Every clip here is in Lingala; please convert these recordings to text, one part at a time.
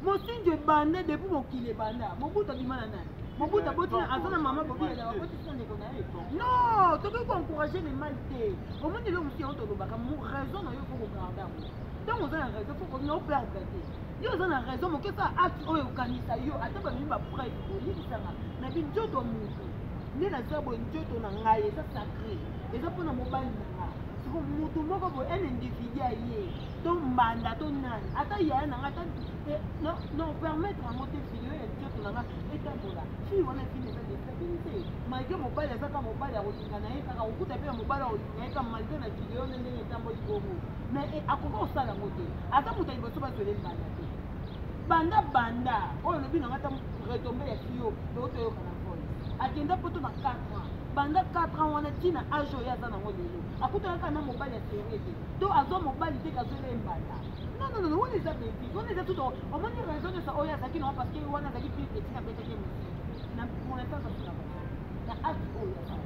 mosinzo ebanda depuis mokili ebanda mobutu abima na nani mobutu aboti aza na mama bobiyana bakotisi na ndeko na ye non tokoki koencourage le mal te omoni eloko mosi yango tolobaka raison na yo fo kogarda yango ntango oza na raison fo koperdre te yo oza na raison moke sa acte oyo okanisa yo ata bamemi bapreuve oyebisanga na binzoto moto nde naza boye nzoto na ngai eza sacré eza mpo na mobali na ngai siko moto moko boye un individu aye to mbanda to nani ata yaya na ngai eh, non permettre yango te video ya nzoto na ngai etambola fii wana fini eza desabili te malgre mobali azaka mobali akolinga na ye kaka kokuta mpe na mobali akolinga ye ka malgre na video nde ndenge etamboli bongo mais eh, akoki kosala yango te aza moto ya liboso bazwele mbanda te banda banda oyo olobi na ngai ta retombe ya fio otoyoka na voice akenda poto na 4 ans banda 4 ans wana ntina age oyo aza nango lelo akutanaka na mobali ya serie te to azwa mobali te kazwela ye mbanda nononono wana eza beti wana eza tuto omoni raison nyonso oyo azalaki nango parce que wana azalaki pire peti na betaki ye mosiki na monatasa na age oyo azalaki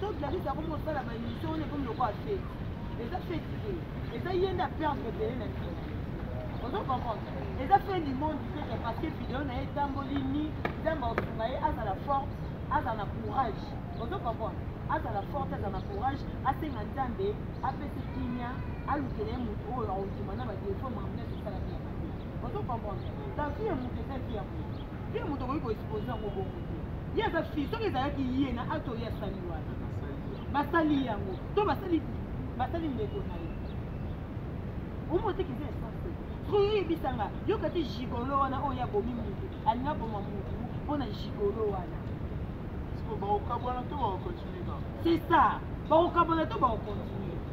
so gladis akomi kosala baémission wana ekomi lokola feti eza feti te eza ye nde aperdre ebele na ntina ozo comprendre eza fin du monde teke parce que video na ye etamboli ni nzambe akosunga ye azala forte azala na courage ozo comprendre azala forte azala na courage asenga nzambe apesi kimia alukela ye moto oyo aondima na badefo mamnese esala te ya mabe ozo comprendre la vie ya moto eza vie ya moto ye moto akoki koexpose yango bongo te ye aza fille soki ezalaki ye na ato ye asali wana basali yango to basali basali ndeko na ye omotekisa esanse soki oyebisanga yoka te gigolo wana oyo ye abomi motu alingi aboma motu mpo na gigolo wana c'est ça bakokabwana to bakokontinue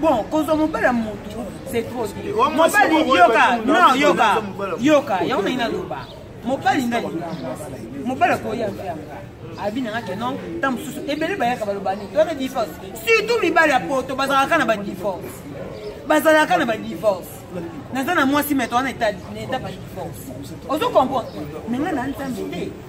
bon kozwa mobali ya motu c'est trop bien mobali yoka non yoka yoka yango nayi naloba mobali ngai mobali akoya mpe yanga abi na ngake non nta mosusu ebele bayaka baloba nini toyaka divorce surtout mibali ya poto bazalaka na badivorce bazalaka na badivorce naza na mwasi meto wana eta badivorce ozo comprendre me ngai na nzambe te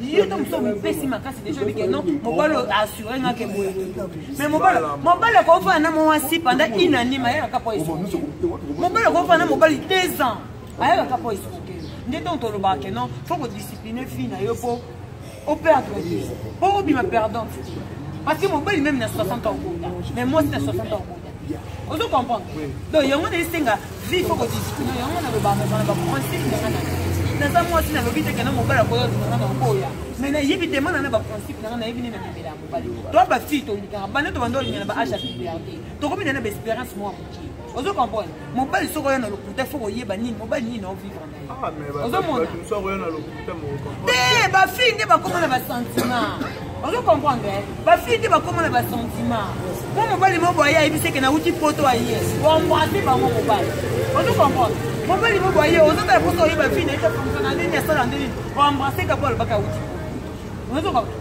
yo to mosusu omipesi makasi deja obike no mobali asure nga ke boye mais mobali mobali akofana na mwasi panda inanime ayaka po esuki mobali akofana na mobali deux ans ayaka po esuki nde ntongo tolobaka ke non fo kodiscipline fille na yo po operdre te po obima perdante te parce que mobali meme na 60 ans okota mais mwasi na 60 ans okota ozo comprendre donc yango na esenga vie fo kodiscute yango nalobaka bana baconseil nanga na naza mwasi nalobi te kena mobali akoya nanga na okoya mais nayebi te mana na baprincipe nanga nayebi nde namemela ya mobali to bafille tolingaka bana to banda olingana ba age ya piberte tokomi na na baespérance mwa moke ozo comprendre mobali soki oya na lokuta fo koyeba nini mobali nini na ovivre ozomona te bafille nde bakoma na basentiment ozo comprendre eh? bafille nde bakoma na basentiment mpo mobali mo boye ayebiseke nauti poto aye oembrase bango mobali ozo comprendre mobali mo boye ozotala mposo oyeba fille naye tofonctiona ndeni asala ndeni oembrase kapo alobaka auti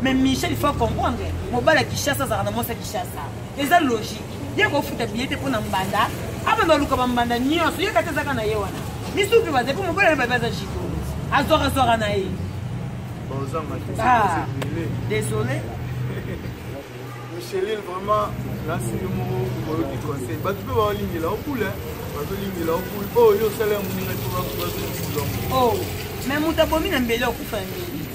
mais michel il faut comprendre mobali ya kishasa azalaka na mwasi ya kishasa eza logique ye kofuta biye te mpo na mbanda abanda oluka bambanda nyonso ye kati ezaka na ye wana misuki baza mpo mobali babi aza jiko azwakazwaka na ye ah, désolé micheline vraiment nasi yo moko oyoki conseil bato mpe baolingela okule bazolingela okule oyo osala ya moninga te bazolisilango mais moto abomi na mbele okufa ya mbele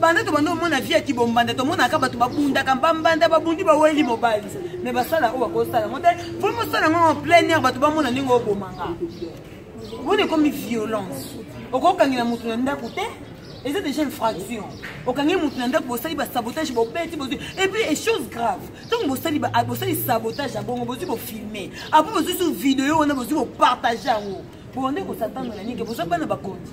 banda tobanda omona vie ya kibombanda tomonaka bato babundaka bambanda babundi baweli mobali me basala oyo bakosala yango te po mosala yango en plein air bato bamona ndenge obomanga omoni ekomi violence okokangela moto na ndako te eza déjà infraction okangi moto na ndako bosali basabotage bobeti bozwi epuis e chose grave ntango bosali bosali sabotage ya bongo bozwi bofilme apo bozwi su video wana bozwi bopartage yango bonde kosatana na nini boza bana bakonzi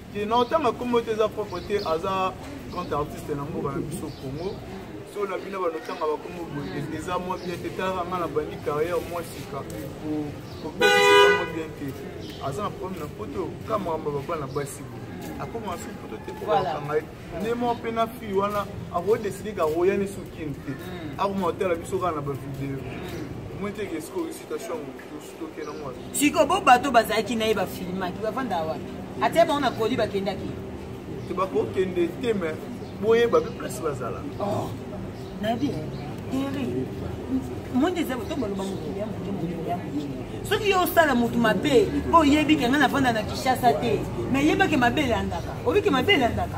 te na otanga kombo te eza propre te aza grand artiste na mboka na biso congo so na bino banotanga bakombo boye eza mwa bien te tala nga na bandi carrière mwa sika kopesa mwa bien te aza na problème na poto ka makambo ya babana basi boye akomaka soki poto te kokanga ye nde moko mpe na fille wana akodeside kakoyani sokini te akomaka tala biso kaka na bavideo mm. moi te ke esiko citation mokutus siko bo bato bazalaki na ye bafilmaki bafanda wapi atia bango na koli bakendaki te bakokende te me boyeba mpe place bazala oh, nayebi eri monde eza boto baloba mokili ya moke mokili ya moke soki yo osala motu mabe mpo oyebi ke ngai nafanda na kinshasa te me yebake mabe elandaka obike mabe elandaka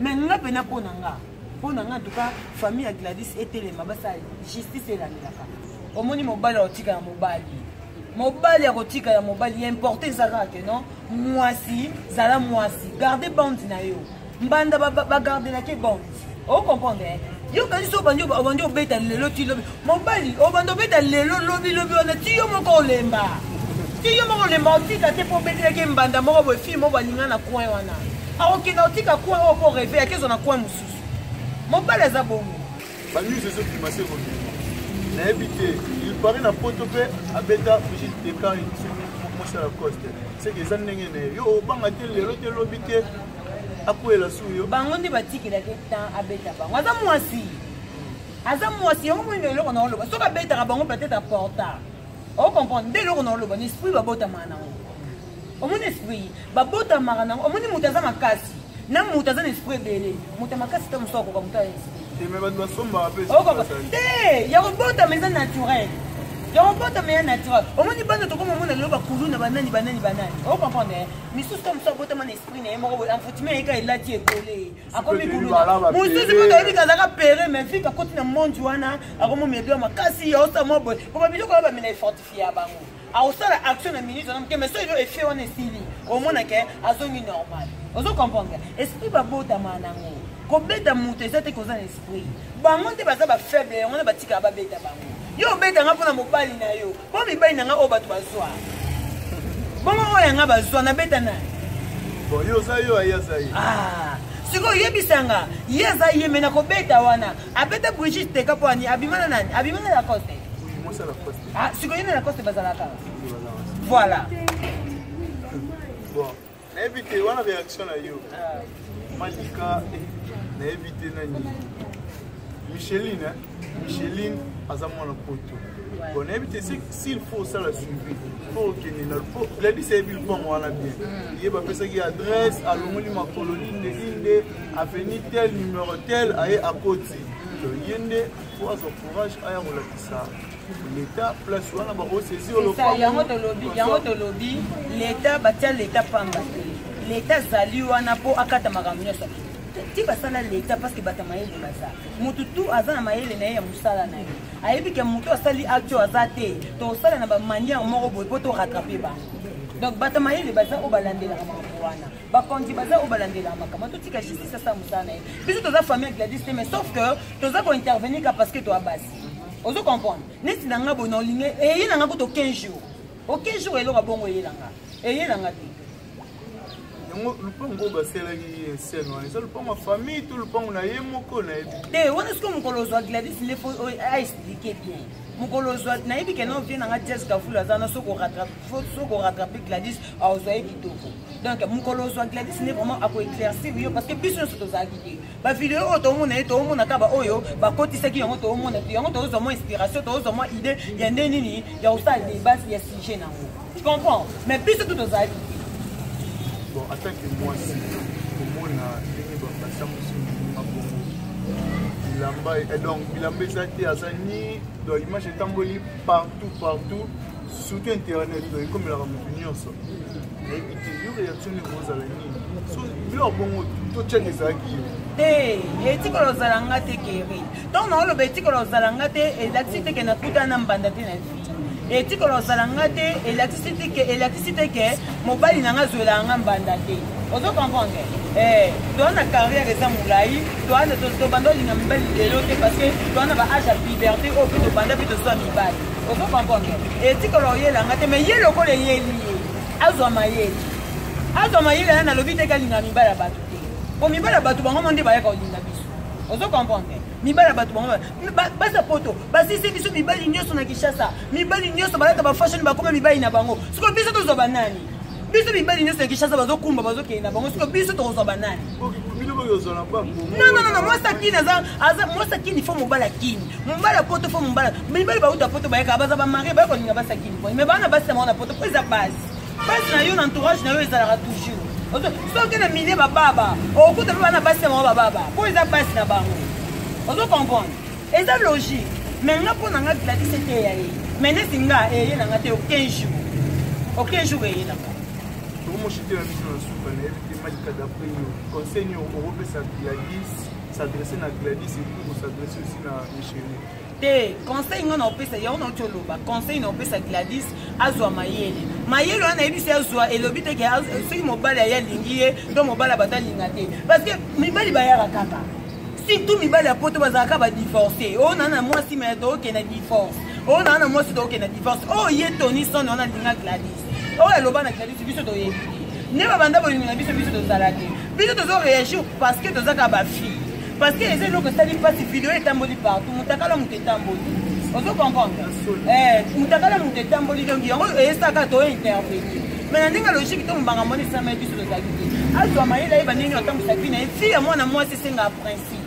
me nga mpena mpo na nga mpo na nga ntuka famille ya gladis etelema basala justice elandelaka omoni mobali akotika ya mobali mobali akotika ya mobali ya importe eza kaka te non mwasi zala mwasi garde bande na yo mbanda bagardelaki bande ocomprendre yo kanisi obandi obeta lelo ti lobi mobali obanda obeta lelo lobi lobi wana ti yo moko olemba ti yo moko olemba otika te mpo obetelaki mbanda moko boye fille moko balinga na coin wana akokenda otika coin oyo mpo reve yaki ezwa na coin mosusu mobali aza bongo banews ezobima se kobima nayebi te ilpari na poto mpe abeta brigitte decan mosala coste seke eza ndenge na ye yo obanga te lelo te lobi te akwela su yo bango nde batikelaki temps abeta bango aza mwasi aza mwasi yango moyino eloko na oloba soki abetaka bango peut-être aporta ocomprendre nde eloko na oloba na esprit babotamaka nango omoni esprit babotamaka nango omoni moto aza makasi na moto aza na esprit ebele moto ya makasi te mosusu akoka moto ya esprit te ya kobotama eza naturel ya kobotama ya naturel omoni bana tokoma omona lelo bakulu na banani banani banani ocomprendre misusu te mosusu abotama na esprit na ye moko boye enfoutime yeka elati ekole akomi kuluna mosusu mpe toyebi kazaka pere mais fika akoti na monde wana akomo medio makasi yaosa mwa boye po babiloko wana bamina efortifie ya bango akosala action na minute wana moke mais so elo effet wana esili omona ke azongi normal ozo comprendre esprit babotama nango kobeta moto eza te koza na esprit bango nde baza bafaible yango wana batikaka babeta bango yo obetanga mpo na mobali na yo Mpo mibali na ngai oyo bato bazwa. Bongo oyo yanga bazwa nabeta na. Bon, yo oza yo aye aza ye. Ah. sikoyo yebisa nga ye aza ye me nakobeta wana abeta brigide teka mpo ani abima na nani abima na lacoste ah, sikoyo ye na lacoste bazalaka voilà nayebi te wana réaction na yo malika eh, nayebi te na nini micheline hein? micheline aza mwana poto bon nayebi te s'il faut osala suivi po okende na po gladis ayebi lupango wana bien mm. ye bapesaki adresse alongoli makolo linde linde aveni tel numero tel aye akoti mm. ye nde po azwa courage aya kolakisa leta place wana bakosesi yango tolobi yango tolobi leta batya leta pamba te leta azali wana mpo akata makambo nyonso ti basala leta parceke bato ya mayele baza motu tu aza na mayele na ye ya mosala na ye ayebi ke motu asali acte oyo aza te tosala na bamaniere moko boye mpo toratrape bango donc bato ya mayele baza oyo balandelaka makambo wana bakonzi baza oyo balandelaka makambo totika justice asala mosala na ye biso toza famille ya gladis te mais sauf que toza kointervenir ka parce que toa basi ozo comprendre neti na nga boye na olingi eye na nga kutu 15 jours o 15 jours eloko bongo eye na nga eye na nga te yango lupango oyo basalaki ye scène wana eza lupango ya famille to lupango na ye moko nayebi te wana soki mokolo ozwa gladis nde fo aexplike bien mokolo ozwa nayebi ke na ovie na nga jazz kafulu aza na soki oratrape gladis aozwa ye kitoko donc mokolo ozwa gladis nde vraiment akoeclaircir yo parce que biso nyonso tozalaki te bavideo oyo toomona ye toomona kaka baoyo bakotisaki yango toomona te yango tozozwa mwa inspiration tozozwa mwa idée ya nde nini ya kosala debat ya sujet na yango tu comprends mais biso tu tozalaki bon atake mwasi komona ndenge basambusi moninga bongo bilamba eh, donc bilamba eza te aza ni donc image etamboli partout partout surtout internet oyo ekomelaka moto nyonso nayebi te yo réaction nde kozala nini so biloko bongo totyaka ezalaki yo etikala ozala nga te keri ntango naoloba etikala ozala nga te elakisi te ke nakuta na mbanda te na vie etikala ozala nga te elakisi te ke elakisi te ke mobali na nga azwelaka nga mbanda te ozo comprendre eh, toa na carrière eza molai tobanda olinga mibali lelo te parce que toa na ba age ya puberté oyo mpe tobanda mpe tozwa mibali ozo comprendre etikala oyela nga te mais ye lokola eyeli ye azwa mayele azwa mayele ya nalobi te kalinga mibala bato te po mibala bato bango mo nde bayaka olinga biso ozo comprendre mibali ya bato bango basi ya poto basisi biso mibali nyonso na kinshasa mibali nyonso balata bafashion bakoma mibali na bango sikoyo biso tozwa banani biso mibali nyonso ya kinshasa bazokumba bazokende na bango sikoyo biso tokozwa banani non non non mwasi akini aza aza mwasi akini fo mobali akini mobali ya poto fo mobali mibali bauta poto bayaka baza bamarie bayaka kolinga basi akini koi me bana basi yango na poto mpo eza basi basi na yo na entourage na yo ezalaka toujours soki na milie bababa okuta mpe bana basi yango bababa mpo eza basi na bango ozo comprendre eza logique me nga mpo na nga gladis eteya ye me neti nga eye na nga te o 15 jour o 15 jour eye na nga okomoshitela biso na suka nayebi te malika d'après yo conseil nio okopesa gladis s'adresse na gladis epuis kosadresse aussi na michele te conseil ngai naopesa yango nauti oloba conseil naopesa gladis azwa mayele mayele wana nayebi se azwa elobi te soki mobali aye alingi ye to mobali bato alinga te parce que mibali bayaka kaka surtout mibali ya poto bazalaka badivorce oyo oh, naa na mwasi me tookenda divorce oyo oh, naa na mwasi tookenda divorce oyo oh, ye toni sone wana alinga gladis oyo aloba na krediti biso toyebi nde babanda bolingo na biso biso tozalaki biso tozo réagir parce que tozaka bafille parce que eza eloko esali mpasi video etamboli partout motakala moto etamboli ozo comprendre eh, motakala moto etamboli donc yango eyesaka to intervenir me na ndenge logique to mobanga mwana esamai biso tozalaki te azwa mayele ayeba ndenge atambwisaki na ye fille ya mwana mwasi esengaka principe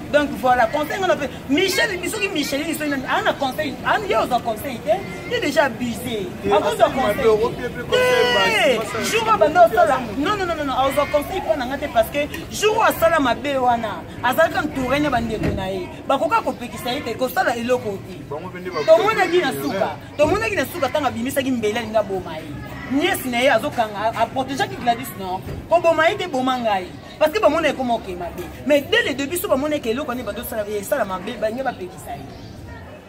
donc voilà conseil ngana pe michel bisoki michel ni soki a na conseil a ni oza conseil te il est déjà abusé a cause de conseil eh jour ba ndo sala non non non non a oza conseil pona ngate parce que jour a sala mabe wana azalaka entouré na bande ko na ye ba koka ko pekisa ye te ko sala eloko te to mona ki na suka to mona ki na suka tanga bimisa ki mbele linga boma ye nièce na ye azokanga a protéger ki Gladys non ko boma ye te boma ngai parce que bamona ekoma okei mabe mais dès le début so bamona eke eloko nde bando osala esala mabe balingi bapekisa ye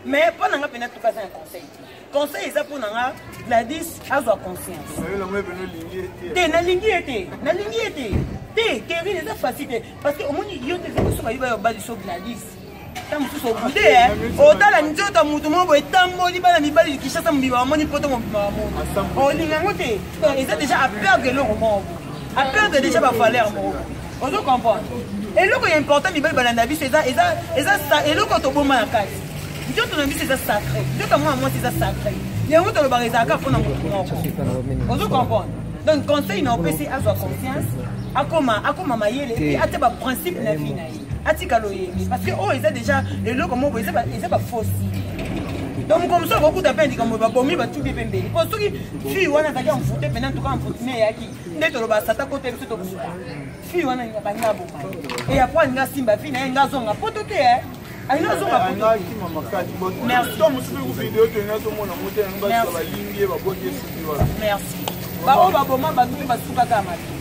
mais mpo na nga mpena tuka aza na conseil te conseil eza mpo na nga gladis azwa conscience te nalingi ye te nalingi ye te te terine eza facile te parce que omoni yo te soki bayiba yo baliso gladis ta mosusu obude eh. otala nzoto ya moto moko boye etamboli bana mibali likishasa mobima bamoni poto mobima bamoni olinga yango te donc eza déjà aperdre eloko moko aperdre déjà bavaleur moko ozo comprendre eloko ya important mibali balanda biso eza eza eza eloko toboma na kati nzoto na biso eza sacré nzoto ya mwana mwasi eza sacré yango tolobaka ezalaka mpo na moto moko ozo comprendre donc conseil na opesi azwa conscience akoma akoma mayele epuis atya baprincipe na vie na ye atika loyenge parce que oyo eza déjà eloko moko eza bafosi donc mokolo mosusu akokuta mpe likambo babomi batubi mpe mbeli mpo soki fille wana azalaki amfute mpena ntuka amfutime eyaki nde toloba sata kote biso tokusuka fille wana balinga aboma eya mpo alinga asimba fille naye nga azonga mpo to te eh. alinga azonga merci baoyo baboma bato mpe basukaka mabe